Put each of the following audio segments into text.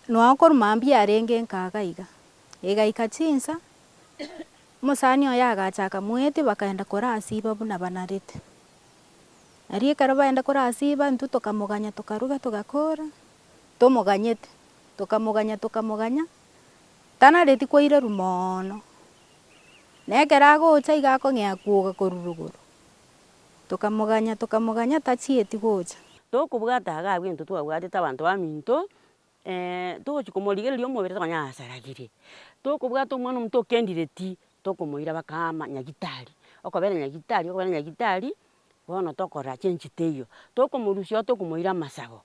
Nokorwa mambia yarenge nkaga iga. Igaika chinsa, omosani oye agacha akamoetia bakaenda korasiba buna banarete. Aria ekero baenda korasiba intwe tokamoganya tokaruga togakora tomoganyete. Tokamoganya tokamoganya tanareti koireru moono. Nekero agocha iga akong'ea kwoga korwa rogoro. Tokamoganya, tokamoganya, tachieti gocha. Tokobwata iga abwo intwe twabwatete abanto baminto, togochia komorigereria omobere tokonya ng'a asaragirie. Tokobwata omwana omonto okendireti, tokomoira bakama nyagitari, okobera nyagitari, okobera nyagitari, bono tokora chinchi teiyo. Tokomorusia oo tokomoira amasabo.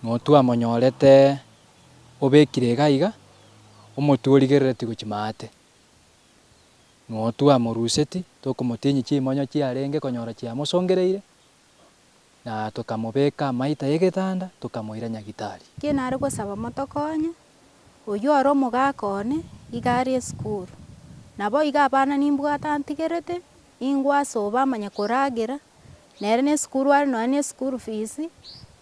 Motwe amonyorete obekire iga iga, omotwe origerereti gochia maate. Notwamoruseti, tokomotinyia chimonyo chiarenge konyora chiamosongereire, na tokamobeka amaita y'egetanda, tokamoira nyagitari. Ki nare gosaba motokonye? Oyio ore omogaka one iga are esukuru. Naboigo abana nimbwate antigerete, ingwe ase obo amanye koragera, nere nesukuru are nonya nesukuru fees,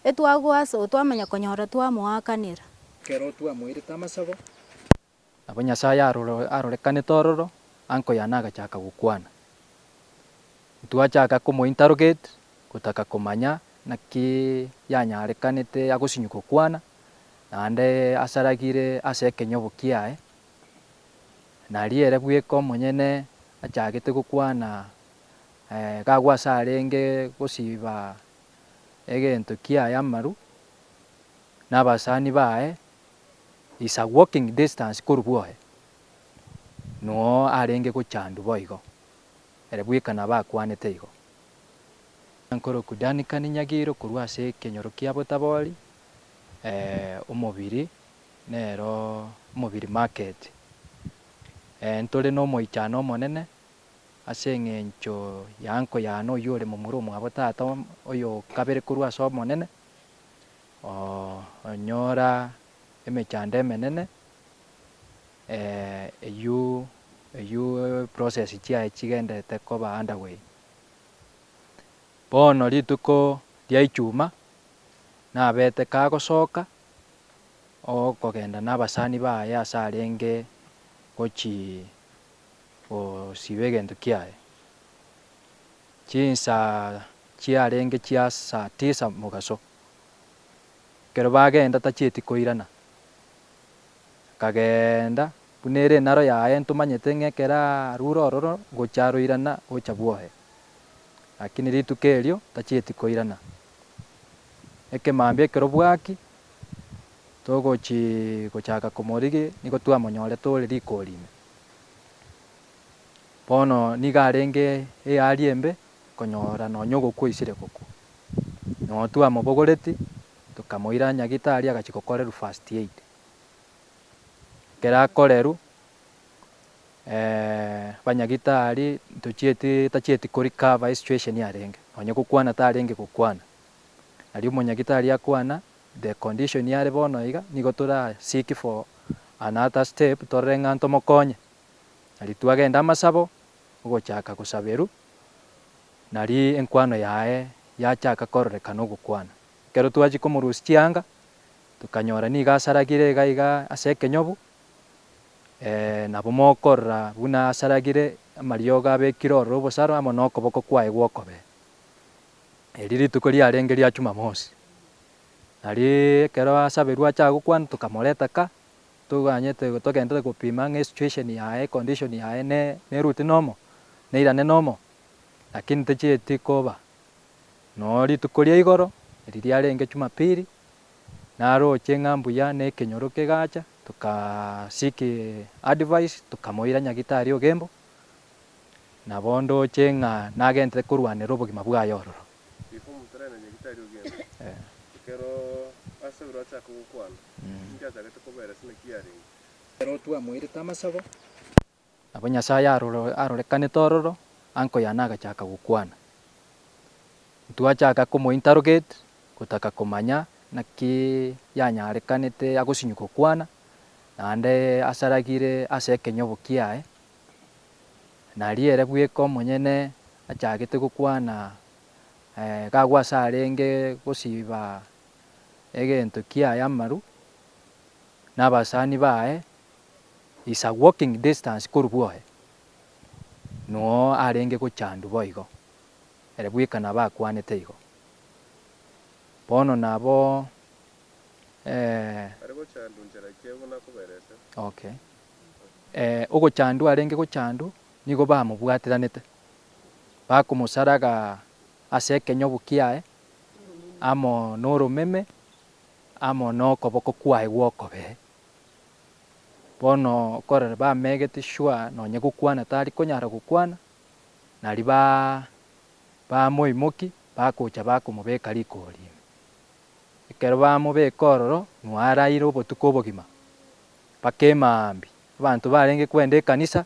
etwagoa ase obo twamanya konyora twamoakanera. Kero twamoirete amasabo, Nabo Nyasae arorekanete ororo anko yane agachaka gokwana. Ntwachaka komointerrogate, gotaka komanya naki yanyarekanete agosinywa gokwana, naende asaragire ase ekenyobo kiaye, na riere bweka omonyene achagete gokwana gagwo ase arenge gosiba egento kiaye amaru, na abasani baye is a walking distance korwa bwoye, noo arenge gochandwa boigo, ere bweka nabo akwanete igo. Nkoroku Duncan Nyagiro korwa ase ekenyoro kia Botabori, eh, omobiri nero omobiri market. Eh, ntore nomoichano omonene ase eng'encho ya uncle yane oyio ore momura omwabo tata oyo okabere korwa ase omonene, Oonyora emechando emenene, eyio eyio process chiaye chigenderete koba under way. Bono rituko ria echuma, nabete kagosoka okogenda nabasani baye ase arenge gochi gosiba egento kiaye. Chinsa chiarenge chia saa tisa mogaso. Ekero bagenda tachieti koirana. Akageenda, buna ere enaro yaye ntomanyete ng'a ekero arure ororo ngocha aroirana gocha bwohe. Lakini rituko erio tachieti koirana. Ekemambia ekero bwaki togochi gochaka komorigia nigo twamonyorete ore rikori ime. Bono nigo arenge eari embe konyora nonya ogokwa oisire gokwa. Noo twamobogoreti tokamoira nyagitari agachia gokorerwa first aid. Ekero akorerwa abanyagitari tochieti tachieti ko recover esituesheni arenge nonya gokwana tarenge gokwana. Aria omonyagitari akwana the condition are bono iga nigo tora seek for another step torore ng'a ntomokonye. Aria twagenda amasabo ogochaka gosaberwa nari enkwano yaye yachaka kororekana ogokwana. Ekero twachia komorusia chianga, tokanyora nigo asaragire iga iga ase ekenyobu, nabo mokorora buna asaragire amariogo abekire ororo obosaro amo nokoboko kwaye gw'okobee. Erio rituko riarenge ria Chumamosi, nari ekero asaberwe achaka gokwana tokamoreta ka. toganyete togenderere gopima ng'a esituation yaye, econdition yaye ne neruti nomo, neirane nomo, lakini techieti koba. Noo rituko ria igoro, eri riarenge Jumapili, naroche ng'a mbuya nekenyoro kegacha, toka seek advice, tokamoira nyagitari ogembo, nabo ndoche ng'a nagenderere korwanera obogima bwaye ororo. Nabo Nyasae arorekanete ororo, anko yane agachaka gokwana. Ntwachaka komointerrogate, gotaka komanya naki yanyarekanete agosinywa gokwana, naende asaragire ase ekenyobo kiaye, Na riire bweka omonyene achagete gokwana, gagwo ase arenge gosiba egento kiaye amaru, na abasani baye is a walking distance korwa bwoye, nuo arenge gochandwa boigo, ere bweka nabo akwanete igo. Bono nabo eh. Are gochandwa inchera ekiaguna koberese. Okay. ee, ogochandwa arenge gochandu nigo bamobwateranete, bakomosaraga ase ekenyobu kiaye, amo noromeme, amo nokoboko kwaye gw'okobee. Bono okorora bamegete shwa nonye gokwana tari konyara gokwana, nari ba bamoimoki bagocha bakomobeka rikori ime. Ekero bamobeka ororo, nwararire obotuko obogima, Bakema aambi, abanto barenge kwenda ekanisa,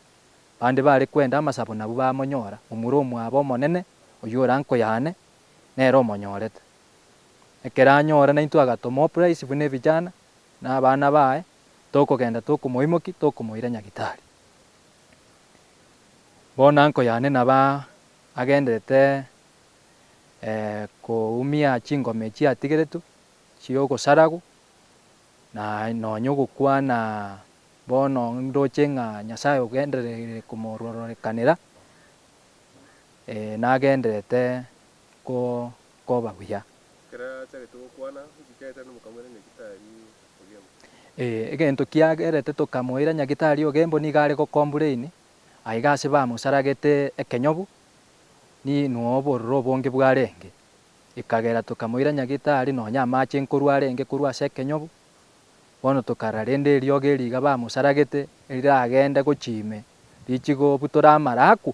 bande bare kwenda amasabo nabwo bamonyora momura omwabo omonene, oyio orankoyane, nere omonyorete. Ekero anyora naintwe agatoma Oprais buna ebijana na abana baye, tokogenda tokomoimoki tokomoira Nyagitari. Bono ankoyane naba agenderete koumia chingoma echi atigeretwe chi'ogosaragwa Na nonya ogokwana bono ndoche ng'a Nyasae ogendererire komororekanera, ee, nagendererete koba buya. Ekero achagete gokwana, nchikerete nomokamoira Nyagitari Ogembo. Ee, egento kiagerete tokamoira Nyagitari Ogembo nigo are gocomplain aiga ase bamosaragete ekenyobu, ninwe obororo obonge bwarenge. Ekagera tokamoira Nyagetari nonya amache nkorwa arenge korwa ase ekenyogo, bono tokarara rende eriogo eri iga bamosaragete eriragende gochia ime richigo butora amara akwo,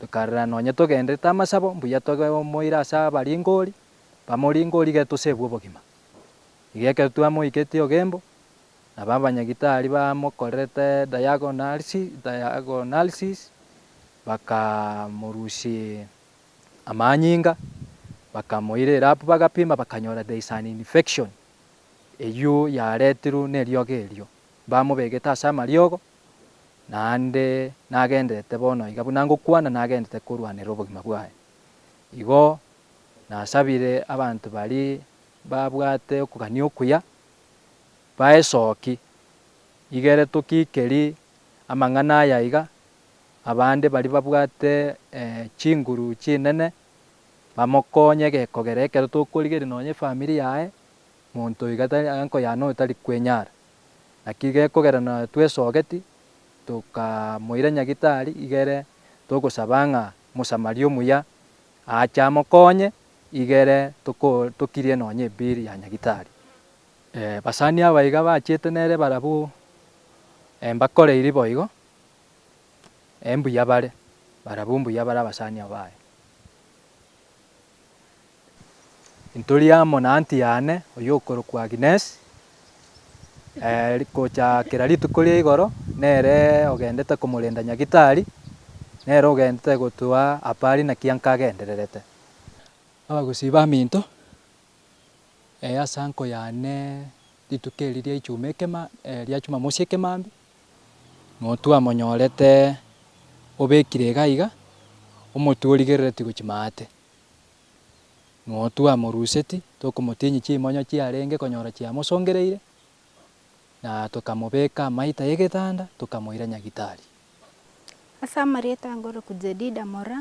tokarara nonya togenderete amasabo, mbuya tobe omoira ase abaringori, bamoringori gete osebwe obogima. Iga ekero twamoiketie ogembo, nabo abanyagitari bamokorerete diagonalsi, diagonalsis, bakamorusia amanyinga, bakamoira erabu bagapima bakanyora there is an infection eyio yaretirwe neriogo erio, bamobegete ase amariogo naende nagenderete bono iga buna ngokwana nagenderete korwanera obogima bwaye. Igo nasabire abanto baria babwate okogania okuya baesoki igere tokikeri amang'ana aya iga Abande baria babwate chinguru chinene bamokonye gekogera ekero tokorigereria nonya efamiri yaye, monto oyo iga tari enko yane oyo tari kwenyara. Naki gekogera na twesogeti tokamoira nyagitari iga ere togosaba ng'a mosamaria omuya aache amokonye iga ere toko tokirie nonya ebill ya nyagitari. Basani aba iga bachete nere barabwo mbakoreiri boigo. Embuya bare, barabwo mbuya bare abasani abo baye. Ntori amo na anti yane oyokorokwa Agnes, gocha kera rituko ria igoro nere ogendete komorenda Nyagitari, nere ogendete gotwa apa are naki ankagendererete. Abagusii baminto, ase anko yane rituko eri ria Ichuma ekema ria Chumamosi ekemambia, Motwe amonyorete obekire iga iga, omotwe origereretie gochia maate. Motwe amoruseti, tokomotinyia chimonyo chiarenge konyora chiamosongereire, na tokamobeka amaita y'egetanda, tokamoira nyagitari. Ase amarieta angoroku Jedida Mora,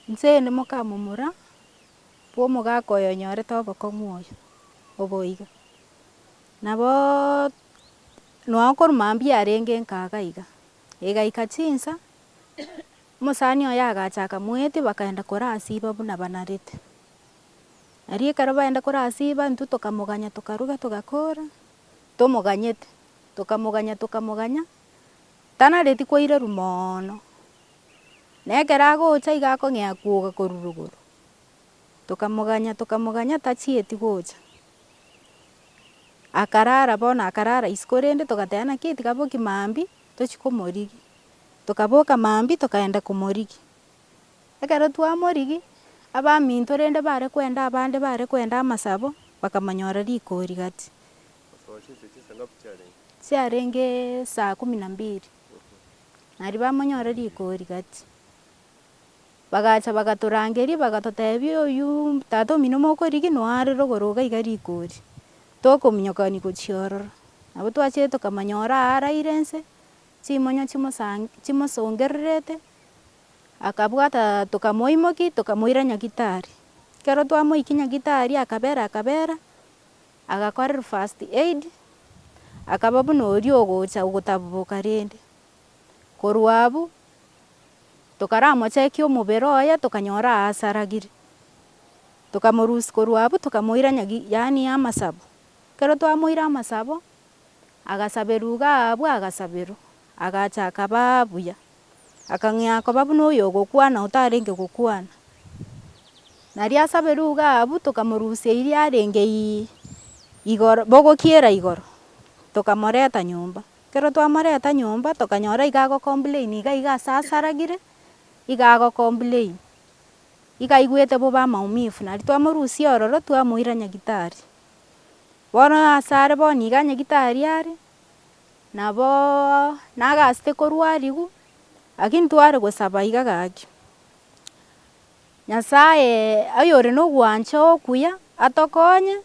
inse ende mokamomura, bw'omogaka oyo onyorete obokong'u oyo, oboiga. Nabo. Nonya korwa mambia yarenge nkaaga iga, egaika chinsa, omosani oye agacha akamoetia bakaenda korasiba buna banarete. Aria ekero baenda korasiba intwe tokamoganya tokaruga togakora tomoganyete, tokamoganya tokamoganya tanareti koireru moono. Nekero agocha iga akong'ea kwoga korwa rogoro, Tokamoganya, tokamoganya tachieti gocha. Akarara bono akarara isiko rende togateba naki eti kaboki mambia tochie komorigia. Tokaboka mambia tokaenda komorigia. Ekero twamorigia, abaminto rende bare kwenda abande bare kwenda amasabo bakamonyora riko rigati. Chiarenge saa kumi na mbiri. Nario bamonyora riko rigati. Bagacha bagatorangeria, bagatotebia, Oyio tata omino mokoriginwa are rogoro iga iga rikori, tokominyokani gochia ororo. Nabo twachire tokamanyora aa araire nse, chimonyo chimosan chimosongererete, akabwata tokamoimoki tokamoira nyagitari. Kero twamoiki nyagitari akabera akabera, agakorerwa first aid, akaba buna oria ogocha ogotaboboka rende. Korwa abwo tokaramochekia omobere oye tokanyora aase aragire. Tokamorusia korwa abwo tokamoira nyagi yaani amasabo. Ekero twamoira amasabo, agasaberwa iga abwo agasaberwa agacha akabaa buya. Akang'ea koba buna oyogokwana otarenge gokwana. Nario asaberwe iga abwo tokamorusia eria arenge igoro bogokiera igoro tokamoreta nyomba. Ekero twamoreta nyomba tokanyora iga agocomplain iga iga ase asaragire iga agocomplain iga aigwete bobe amaumifu nari twamorusia ororo twamoira nyagitari. Bono asare bono iga nyagitari are naboo nagasete korwarigu lakini tware gosaba iga gaki Nyasaye oyore nogwancha okuya atokonye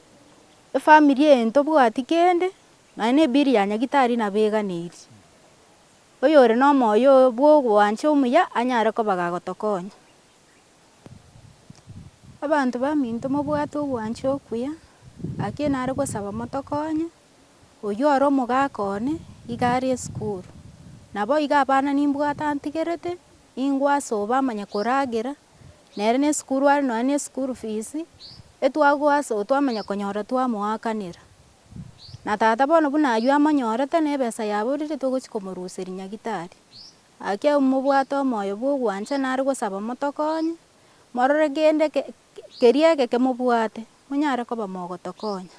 efamiri eye ntobwati kende Nonya nebiri ya Nyagitari nabeganeirie. Oyore nomoyo bw'ogwancha omuya anyare koba gagotokonya. Abanto baminto mobwate ogwancha okuya, gaki enare gosaba motokonye, oyio ore omogaka one iga are esukuru. Nabo iga abana nimbwate antigerete, ningwe ase obo amanye koragera, nere ne esukuru are nonya ne esukuru fees, etwagoa ase obo twamanya konyora twamoakanera. Na tata bono buna ayio amonyorete, na ebesa yaborire togochia komoruseria nyagitari. Gaki abu mobwate omoyo bw'ogwancha nare gosaba motokonye, morore kende keria egeke mobwate, monyare koba mogotokonya.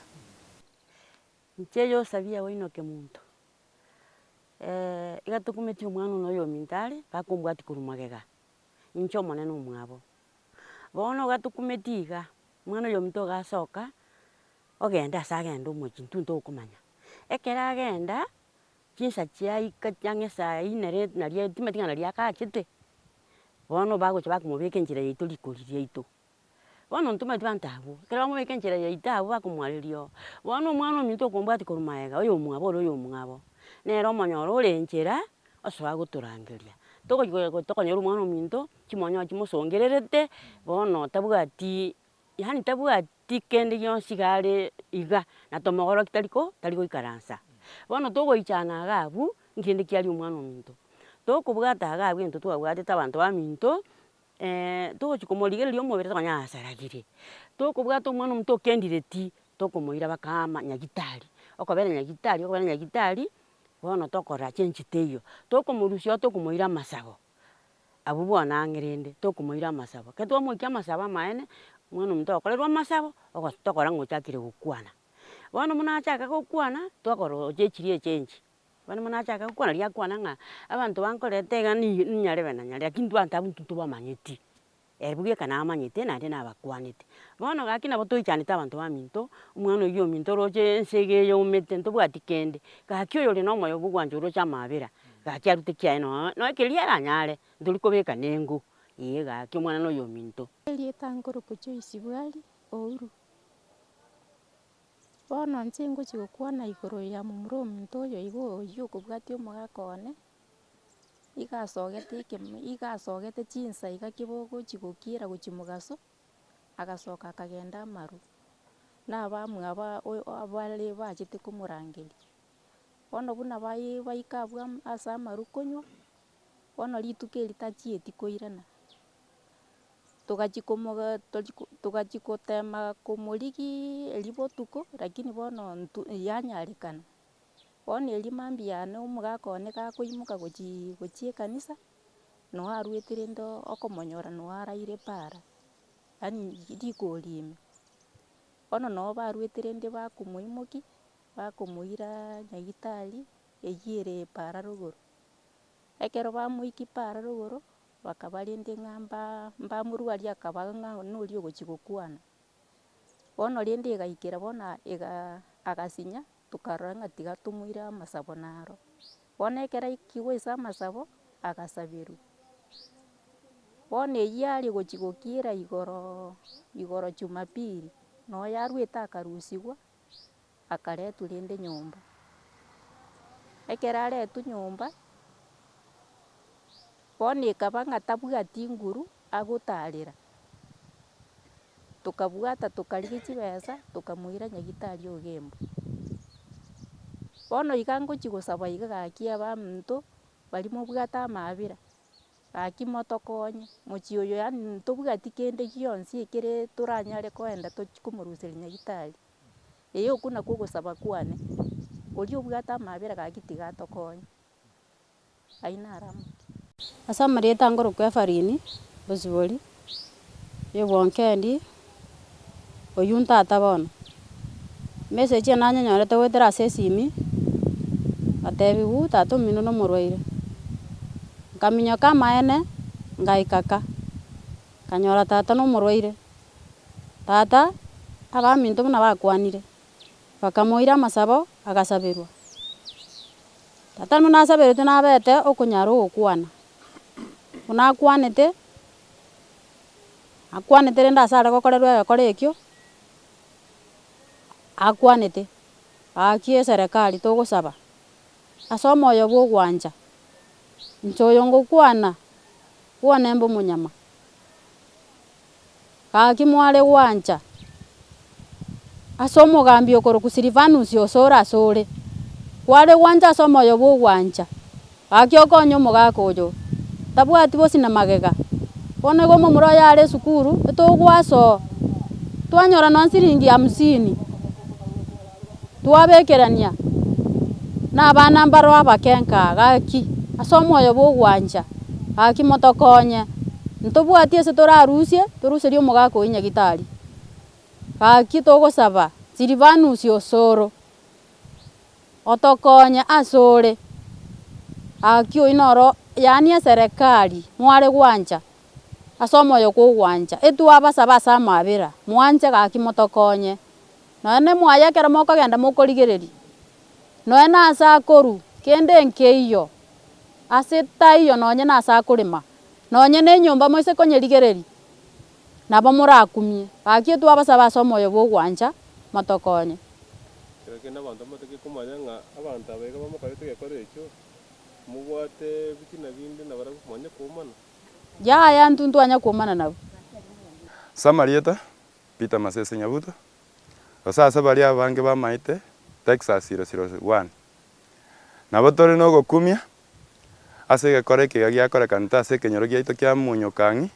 Inche Yosabi ya Wainoke monto, iga tokumeti omwana one oyo ominto are, bakombwatia korwa magega, inche Omonene omwabo. Bono iga tokumeti iga, omwana oyo ominto iga asoka. Ogende ase agende omochie intwe ntokomanya. Ekero agenda chinsa chiaika ang'e esaa ine rende naria etima ting'ana naria agachete, bono bagochia bakomobeka enchera yaito rikori riaito. Bono ntomanyete abanto abwo, ekero bamobeka enchera yaito abwo bakomoareria oo, bono omwana ominto okombwatia korwa magega oyo omwabo ore oyo omwabo, nere omonyora ore enchera osoe agotorangeria. Togochi goe goe tokonyora omwana ominto chimonyoba chimosongererete bono tabwati yaani tabwati. Tikende gionsi iga are iga, na tomogororoki tari ko tari goikaransa. Bono togoichana iga abwo, nkende ki aria omwana ominto. Tokobwata iga abwo egento twabwatete abanto baminto, togochi komorigereria omobere tokonya asaragire. Tokobwata omwana ominto okendire ti, tokomoira bakama nyagitari, okobera nyagitari, okobera nyagitari, bono tokora chenchita eyio. Tokomorusia oo tokomoira amasago, Abwo bono ang'e rende tokomoira amasabo. Ekero twamoikia amasabo amaene, omwana omonto okorerwa amasabo, ogo tokora ng'a ochakire gokwana. Bono buna achaka gokwana, twakorosia echiria eche enchio. Bono buna achaka gokwana riria akwana ng'a abanto bankoreta iga ni- ninyarebe nanyarebe, lakini intwe abanto abwo intwe ntobamanyeti. Ere bweka namanyete naende nabakwanete. Bono gaki nabo toichanete abanto baminto, omwana oyio ominto oroche ense iga eyomete ntobwati kende, gaki oyore nomoyo bwogwancha oroche amabera, gaki arute kiaye nonya nonya keria aranyare, ntori kobeka nengo, ee gaki omwana noyo ominto. Erieta nkoroka Joyce Bwali Ouru. Bono inche ngochia gokwana igoro ya momura ominto oyo iga oyio okobwatia omogaka one. Iga asogete ekemo, iga asogete chinsa iga keboko chigokiera gochia mogaso, agasoka akagenda amaru, na abamwabo oyo abare bachete komorangeria. Bono buna bayi baika abwo am- ase amaru konywa, bono rituko eri tachieti koirana, togachia komoga tochi ko togachia gotema komorigiiria botuko, lakini bono ntu yanyarekana. Bono erio mambia ane omogaka one gakoimoka gochii gochia ekanisa, noe aruete rende okomonyora noe araire paara, yaani rikori ime. Bono noe baruete rende bakomoimokia, bakomoira nyagetari eyio ere paara rogoro. Ekero bamoikia paara rogoro, bakaba rende ng'a mbaa mbamorwaria akaba ng'a noria ogochia gokwana. Bono rende egaikera bono igaa agasinya. Tokarora ng'a tiga tomoire amasabo naro. Bono ekero aikigwe ase amasabo, agasaberwa. Bono eyio aria gochia gokiira igoro, igoro jumapili, na oyarwete akarusigwa, akaretwa rende nyomba. Ekero aretwe nyomba, bono ekaba ng'a tabwati nguru. Agotaarera, tokabwata tokarigia chibesa tokamoira nyagitari o Gembo. Bono iga ngochia gosaba iga gaki abanto baria mobwate amaabera gaki motokonye mochie oyo yaani ntobwati kende gionsi ekere toranyare koenda tochie komoruseria nyagitari. Eye okwo nakwo ogosaba kwane, oria obwate amaabera gaki tiga atokonye. Ayio naro amang'ana. Ase amarieta angorokwa Efarini, Osibori, Yebwonkendi, oyio ntata bono. Emesegi eye nanyenyorete goetera ase esimi, ngatebigwa tata omino nomorwaire. Nkaminyoka amaene, ngaika ka, nkanyora tata nomorwaire. Tata abaminto buna bakwanire. bakamoira amasabo, agasaberwa. Tata buna asaberete nabete okonyara ogokwana. Buna akwanete, akwanete rende ase are gokorerwa egekore ekio, akwanete, gaki eserekari togosaba ase omoyo bwa ogwancha, inche oyo ngokwana, kwane mbe omonyama. Gaki mware gwancha ase omogambi okorokwa Silivanusi osore asore. Kware gwancha ase omoyo bw'ogwancha, gaki okonye omogaka oyo, tabwati bosio na magega. Bono igo omomura oye are esukuru, etogoasoa, twanyora nonya siringi hamsini. Twabekerania nabana mbaro abakenka, gaki, ase omoyo bw'ogwancha, gaki motokonye. Ntobwati ase torarusie, toruserie omogaka oyio nyagitari. Gaki togosaba Silivanus o Soro, otokonye ase ore. Gaki oyio noro yaani eserekari mware gwancha ase omoyo kw'ogwancha. Etwabasaba ase amabera, mwanche gaki motokonye. Nonya nemwaye ekero mokogenda mokorigereria, nonya nase akoru kende enkeiyo ase taiyo nonya nase akorema, nonya nenyomba moise konyerigereria, nabo morakumie. Gaki twabasabe ase omoyo bw'ogwancha motokonye. Kera kende abanto bamatake komanya ng'a abanto aba iga bamokorete egekora ekio, mobwate ebitina binde na barabwo, mwanye kuomana. Yaya, intwe ntwanye kuomana nabwo. Samarieta, Peter Masese Nyabuto, gose ase baria abange bamaete Texas siro siro one. Nabo tore nogokumia ase egekora ekiga giakorekanete ase ekenyoro giaito kia Munyukang'i,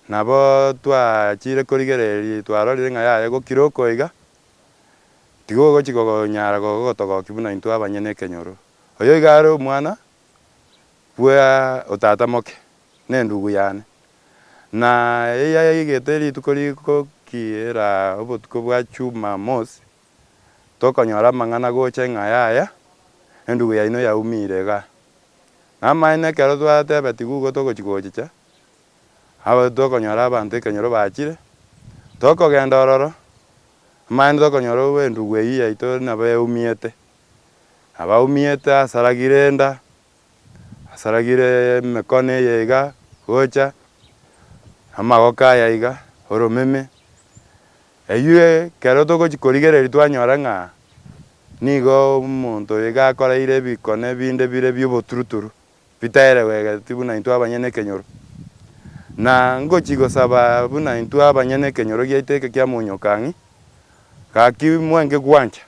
nabo twachire korigereria twarorire ng'a yaya gokira okoiga, tigo ogochika konyara gogotogoki buna intwe abanyene ekenyoro. Oyo iga are omwana bwe otata moke, nendugu yane. Na eyio yaigete rituko rigokira obotuko bwa Chumamosi, tokonyora amang'ana gocha ng'a yaya, endugu yaino yaumire iga. Namaene ekero twateba tigugo togochigochicha, aba tokonyora abanto ekenyoro bachire, tokogenda ororo, amaene tokonyora obo endugu eyio yaito nabo yaumiete. Abaumiete asaragire enda. asaragire emekono eye iga gocha, amagoko aya iga, oromeme, eywo ekero togochia korigereria twanyora ng'a nigo omonto oyo iga akoreire ebikono ebinde bire bioboturuturu, bitaerewegereti buna intwe abanyene ekenyoro. Na ngochia gosaba buna intwe abanyene ekenyoro giaito eke kia monyokang'e, gaki mwenge gwancha,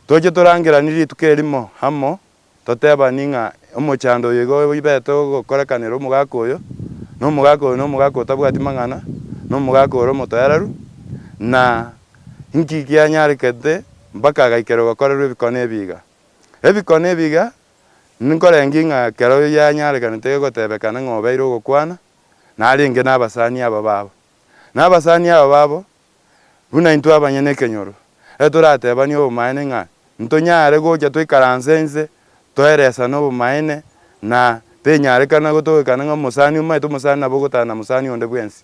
toche torangeranie rituko erimo amo Totebani ng'a omochando oyo igo oibete ogokorekanera omogaka oyo, na omogaka oyo nomogaka otabwati mang'ana, na omogaka ore omotoereru, na inki kianyarekete mpaka agaikera ogokorerwa ebikone ebiiga? Ebikone ebiiga nkorengie ng'a kera oyio yanyarekanete egotebekana ng'a obeire ogokwana, narenge nabasani aba babo. Na abasani aba babo Buna intwe abanyene ekenyoro, ere toratebanie obomaene ng'a ntonyare gocha toikaranse inse toeresane obomaene, na tenyarekana gotogwekana ng'a omosani omaete omosani nabo ogotana mosani onde bwensi.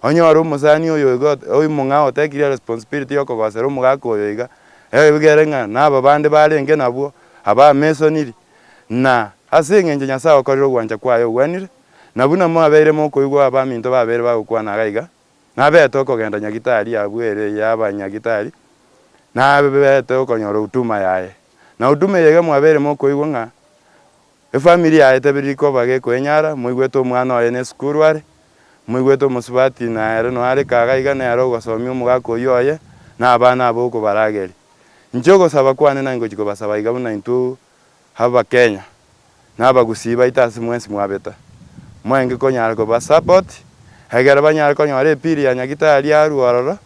Onye ore omosani oyo iga oimo ng'a otekirie responsibility y'okogosera omogaka oyo iga, egere ng'a naba bande barenge nabwo abamesoniri, na ase engencho Nyasae okorire ogwancha kwaye ogwenire, na buna mwabeire mokoigwa abaminto babere bagokwana iga iga, Nabete okogenda nyagitari abwo ere y'abanyagitari, nabete okonyora huduma yaye. Na huduma eye iga mwabeire mokoigwa ng'a efamiri yaye tebiri rikoba gekoenyara, moigwete omwana oye nesukuru are, moigwete omosubati na ere noare kaga iga nere ogosomia omogaka oyio oye na abana abo okobarageria. Inche ogosaba kwane naye ngochia kobasaba iga buna intwe Abakenya na abagusii baito ase mwensi mwabeta, mwaenge konyara koba support egere banyare konyora epili ya nyagitari arue ororo,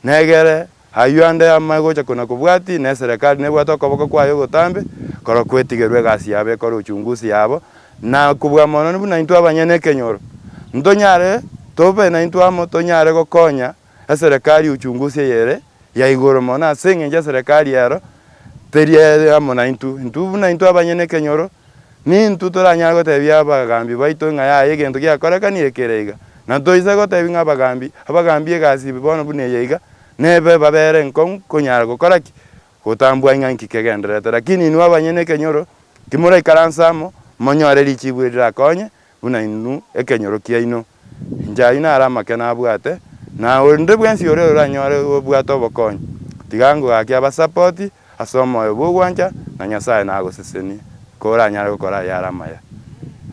na egere ayio ande ame gocha kona kobwati na eserekari nebwate okoboko kwaye ogotambe korwa kwetigerwa egasi yabo ekore uchunguzi yabo, na kobua mono buna intwe abanyene ekenyoro ntonyare tobe naintwe amo tonyare gokonya. Eserekari y'ochungusi eyere ya igoro mono, ase engencho eserekari ero teri eye amo naintwe. Intwe buna intwe abanyene ekenyoro, nintwe toranyare gotebia abagaambi baito ng'a yaya egento giakorekani ekere iga, na toise gotebia ng'a abagaambi, abagaambi egasi ebe bono buna eye iga, nebe babere enkong'u konyara gokora ki? Gotambua ng'a nki kegendererete. Lakini inwe abanyene ekenyoro, timoraikaranse amo, monyore richibu eri rirakonye, Buna inwe ekenyoro kiaino, inche ayio naro amake nabwate, na onde bwensi oria oranyore gobwata obokonyi, tiga ngogake abasapoti ase omoyo bw'ogwancha, na Nyasae nagosesenie, koranyare gokora ayare amaya.